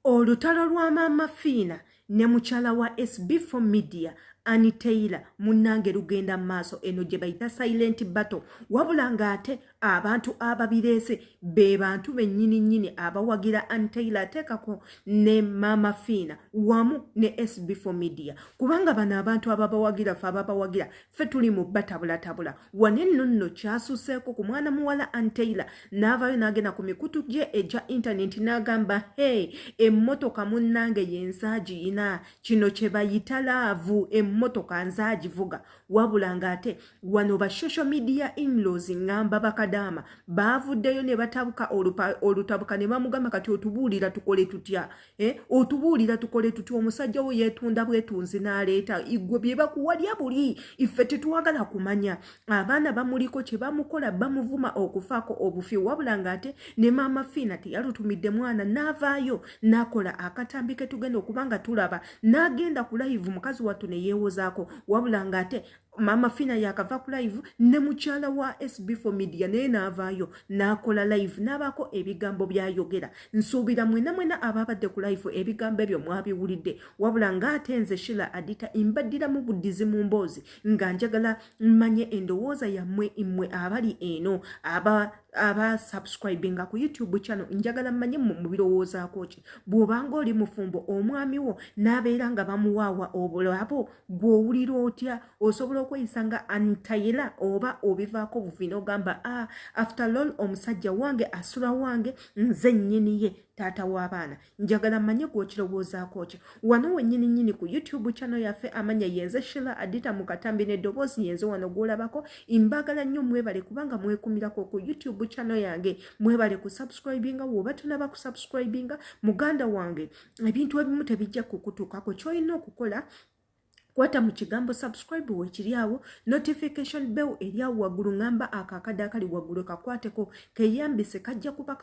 olutalo lwa maama fiina ne mukyala wa sb4 media ani taylor munnange lugenda mu maaso eno gye bayita silent battle wabula ng'ate abantu ababireese be bantu bennyini nnyini abawagira ani taylor ateekako ne maama fiina wamu ne sb4 media kubanga bano abantu ababawagira fe ababawagira ffe tuli mu batabulatabula wano enno nno kyasuseeko ku mwana muwala anteila n'avaayo n'agenda ku mikutu gye egya intaneti n'agamba he emmotoka munnange yenzaagi ina kino kye bayita laavu emmotoka nzaagivuga wabula ng'ate wano ba social media inlos ngamba bakadaama baavuddeyo ne batabuka olutabuka ne bamugamba kati otubuulira tukole tutya Eh, otubuulira tukole tutya omusajja wo yeetunda bwetunzi n'aleeta igwe bye bakuwalya buli iffe tetwagala kumanya abaana bamuliko kye bamukola bamuvuma okufaako obufi wabula ng'ate ne maama fiina teyalutumidde mwana n'avaayo n'akola akatambi ke tugenda okuba nga tulaba n'agenda ku layivu mukazi wattu ne yeewozaako wabula ng'ate mama fina yakava ku live ne mukyala wa sb for media naye naavaayo n'akola live n'abaako ebigambo byayogera nsuubira mwena mwena abaabadde ku live ebigambo ebyo mwabiwulidde wabula ng'ate nze shila adita mbaddiramu buddizi mu mboozi nga njagala mmanye endowooza yammwe mmwe abali eno aba aba subscribinga ku youtube channel njagala mmanye mu birowoozaako ki bw'obanga oli mufumbo omwami wo n'abeera nga bamuwaawa obulabo gwe owulira otya osobola okweyisa nga antayela oba obivaako buvi nogamba a ah, after lol omusajja wange asula wange nze nyini ye taata w'abaana njagala manye gwokirowoozaako ki wano wenyini nyini ku youtube kyano yaffe amanya yenze shila adita mu katambi n'eddoboozi yenze wano gwolabako imbagala nnyo mwebale kubanga mwekumirako ku youtube kyano yange mwebale ku subscribinga woba tonaba ku subscribinga muganda wange ebintu ebimu tebijja kukutuukako kyolina okukola kwata mu kigambo subscribe wekiri awo notification bell eri awo waggulu ngamba ako akadde akali waggulu kakwateko keyambise kajja kuba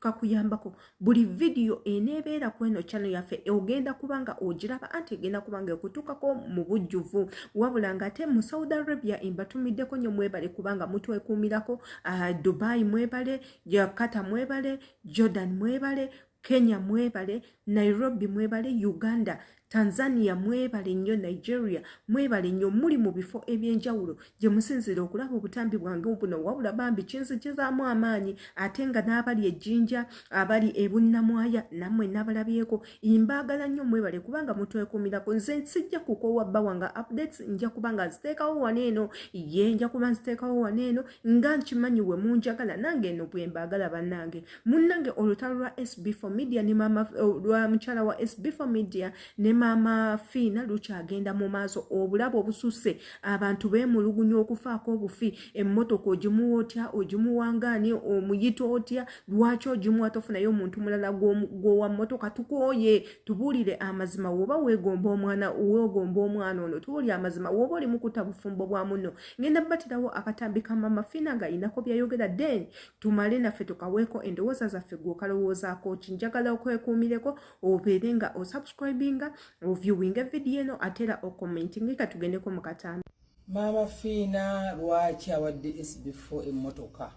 kakuyambako buli vidiyo eneebeera ku eno kyano yaffe ogenda kuba nga ogiraba anti egenda kuba nga ekutuukako mu bujjuvu wabula nga ate mu saudi arabia embatumiddeko nyo mwebale kubanga mutwekuumirako ah, dubai mwebale jakata mwebale jordan mwebale kenya mwebale nairobi mwebale uganda tanzania mwebale nnyo nigeria mwebale nnyo muli mu bifo ebyenjawulo gye musinzira okulaba obutambi bwange buno wabula bambi kinzijizaamu amaanyi ate nga n'abali ejjinja abali ebunnamwaya nammwe nabalabyeko imbaagala nnyo mwebale kubanga mutwekuumirako nze nsijja kukoowa bba wange updates nja kuba nga nziteekawo wano eno ye nja kuba nziteekawo wano eno nga nkimanyi we munjagala nange eno bwe mbaagala bannange munnange olutalo lwa sb for media ne mama oh, lwa mukyala wa sb for media ne maama fiina lukyagenda mu maaso obulabe obususe abantu beemulugunya okufaako obufi emmotoka ogimuwa otya ogimuwangaani omuyita otya lwaki ogimuwa tofunayo omuntu mulala gwowa mmotoka tukooye tubuulire amazima woba wegomba omwana wegomba omwana ono tubuulire amazima woba oli mukuta bufumbo bwa muno ngenda batirawo akatambi ka maama fiina ng'alinako byayogera den tumale naffe tukaweeko endowooza zaffe gwe okalowoozaako ki njagala okwekuumireko obeere nga osubscribinga oviewinga evidiyo eno ate era okommentingika tugendeko mu katanda maama fiina lwaki awadde sb4 emmotoka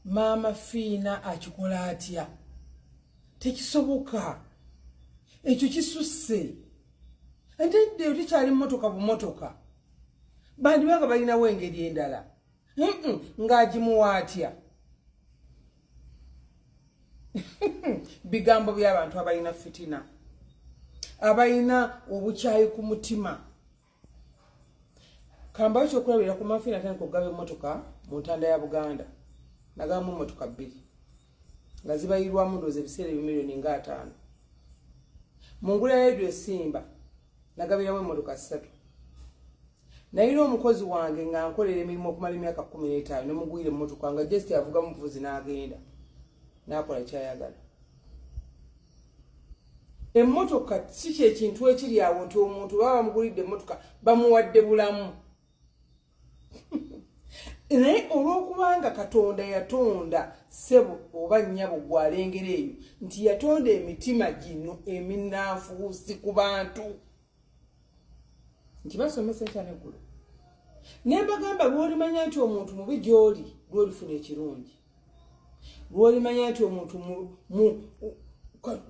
maama fiina akikola atya tekisoboka ekyo kisusse ate dde otekyali mmotoka bumotoka bandibanga balinawo engeri endala ng'agimuwa atya bigambo by'abantu abalina fitina abalina obukyayi ku mutima kambayo kyokulabira ku mafiina tandika okugaba emmotoka mu ntanda ya buganda nagabamu emmotoka bbiri nga zibayirwamu ndoozi ebiseera ebimiliyoni nga ataano mu ngula ya redio esimba nagabiramu emmotoka ssatu nayina omukozi wange nga nkolera emirimu okumala emyaka kumi n'etaano ne mugwira emmotoka nga just avuga muvuzi n'agenda n'akola kyayagala emmotoka si kyekintu ekiri awo nti omuntu baba bamugulidde emmotoka bamuwadde bulamu naye olwokubanga katonda yatonda sebo oba nyabo gwalengera eyo nti yatonda emitima gino eminanfuusi ku bantu nti basomesa ekya neggulu naye bagamba lwolimanya nti omuntu mubi gyoli lwolifuna ekirungi lwolimanya nti omuntu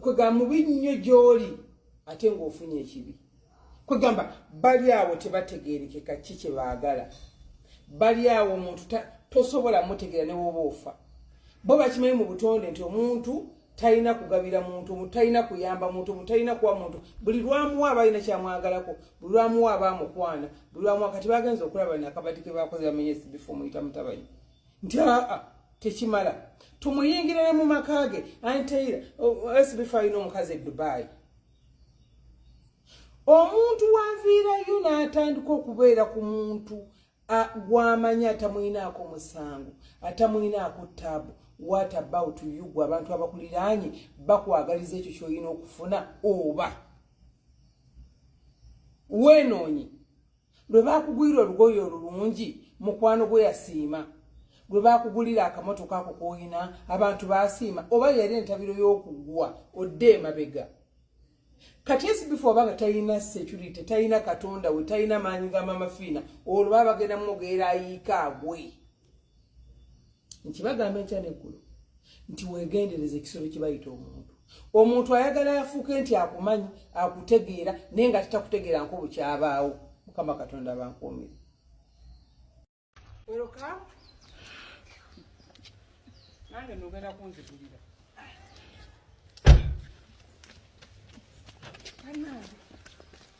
kwegamba mubi nnyo gy'oli ate ng'ofunye ekibi kwegamba bali awo tebategerekeka ki kye baagala bali awo omuntu tosobola mutegeera ne woba ofa bo bakimanyi mu butonde nti omuntu talina kugabira muntu omuntu talina kuyamba muntu omuntu talina kuwa muntu buli lwamuwa aba alina kyamwagalako buli lwamuwa aba amukwana buli lwamuwa kati bagenza okulaba nakabadi ke bakoze bamenye esibifu omuyita mutabanyi nti aa tekimala tumuyingirire mu maka ge anteira sbfa alina omukazi e dubai omuntu wanviirayo n'atandika okubeera ku muntu gwamanyi atamulinaako musango atamulinaako taabu wat about you gwe abantu abakuliraanye bakwagaliza ekyo kyolina okufuna oba weenoonyi lwe baakugulira olugoye olulungi mukwano gwe yasiima lwe baakugulira akamotoka ako koyina abantu baasiima oba yali entabiro y'okuggwa odde emabega kati esibifu oba nga talina security talina katonda we talina maanyi ga mamafiina olwo baba bagenda mwogeera ayiika agwe nkibagamba enkya neggulu nti wegendereza ekisolo kibayita omuntu omuntu ayagala afuuke nti akumanyi akutegeera naye nga titakutegeera nko bukyabaawo mukama katonda bankuumire nange nogenda kunzigulira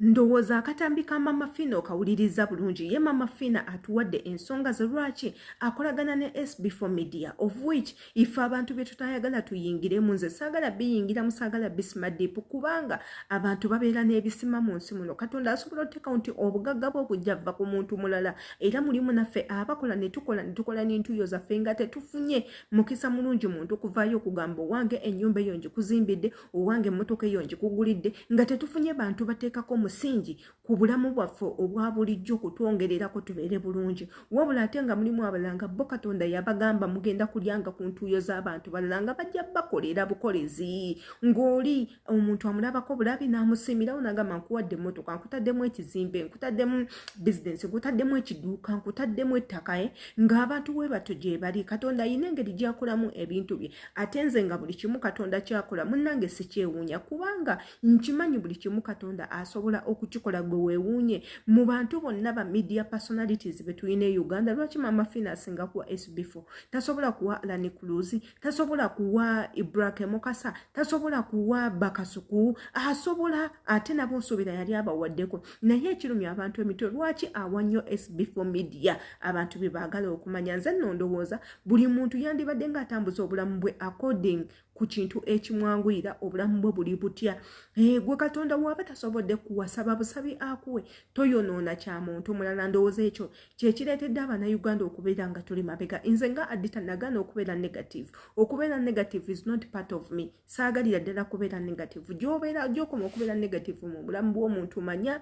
ndowooza akatambi ka mama fina okawuliriza bulungi ye mama fina atuwadde ensonga ze lwaki akolagana ne sb for media of which ife abantu byetutayagala tuyingiremu nze saagala biyingiramu saagala bisima diipu kubanga abantu babeera n'ebisima mu nsi muno katonda asobola oteeka nti obugagga bwe obujja vva ku muntu mulala era mulimu naffe abakola netukola netukola n'entuyo zaffe nga tetufunye mukisa mulungi muntu kuvaayo okugamba owange ennyumba eyo ngikuzimbidde owange emmotoka eyo ngikugulidde nga tetufunye bantu bateekako omusingi ku bulamu bwaffe obwa bulijjo kutwongererako tubeere bulungi wabula ate nga mulimu abalala nga bo katonda yabagamba mugenda kulyanga ku ntuuyo z'abantu balala nga bajja bakolera bukolezi ng'oli omuntu amulabako bulabi n'amusiimirawo nagamba nkuwadde emmotoka nkutaddemu ekizimbe nkutaddemu bizinensi nkutaddemu ekiduuka nkutaddemu ettaka e ng'abantu we batyo gye bali katonda ayina engeri gyakolamu ebintu bye ate nze nga buli kimu katonda kyakola munnange sikyewuunya kubanga nkimanyi buli kimu katonda asobola okukikola gwe wewuunye mu bantu bonna ba media personalities betulina e uganda lwaki mama fina asinga kuwa sbfo tasobola kuwa alani kuluzi tasobola kuwa ibrahim mukasa tasobola kuwa bakasuku asobola ate nabo nsuubira yali abawaddeko naye ekirumya abantu emitwe lwaki awa nnyo sbfo media abantu bye baagala okumanya nze nondowooza buli muntu yandibadde ng'atambuza obulamu bwe according ku kintu ekimwanguyira obulamu bwe buli butya eh, gwe katonda waaba tasobodde kuwasaba busabi akuwe toyonoona kya muntu mulala ndowooza ekyo kyekireetedde abanauganda okubeera nga tuli mabega nze nga adita nagaana okubeera negative okubeera negative is not part of me saagalira ddala kubeera negative gyobeera gyokoma okubeera negative mu bulamu bw'omuntu manya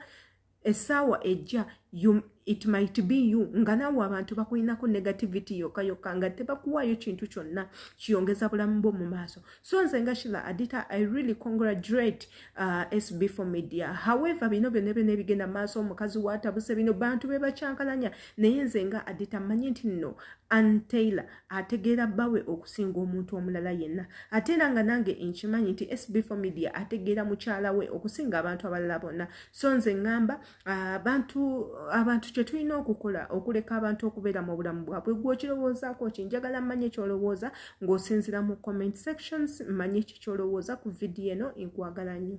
esaawa ejja it might be you nga naawe abantu bakulinako negativity yoka yoka nga tebakuwaayo kintu kyonna kiyongeza bulamu bwo mu maaso so nze nga shila adita i really congratulate uh, sb for media however bino byona byona ebigenda maaso omukazi watabuse bino bantu bebakyankalanya naye nze nga adita manyi nti no Ann Taylor ategeera bbawe okusinga omuntu omulala yenna ate era nga nange nkimanyi nti SB4 Media ategeera mukyala we okusinga abantu abalala bonna so nze ŋŋamba abantu abantu kye tulina okukola okuleka abantu okubeera mu bulamu bwabwe gwokirowoozaako ki njagala mmanye kyolowooza ng'osinzira mu comment sections mmanye ki kyolowooza ku vidiyo eno nkwagala nnyo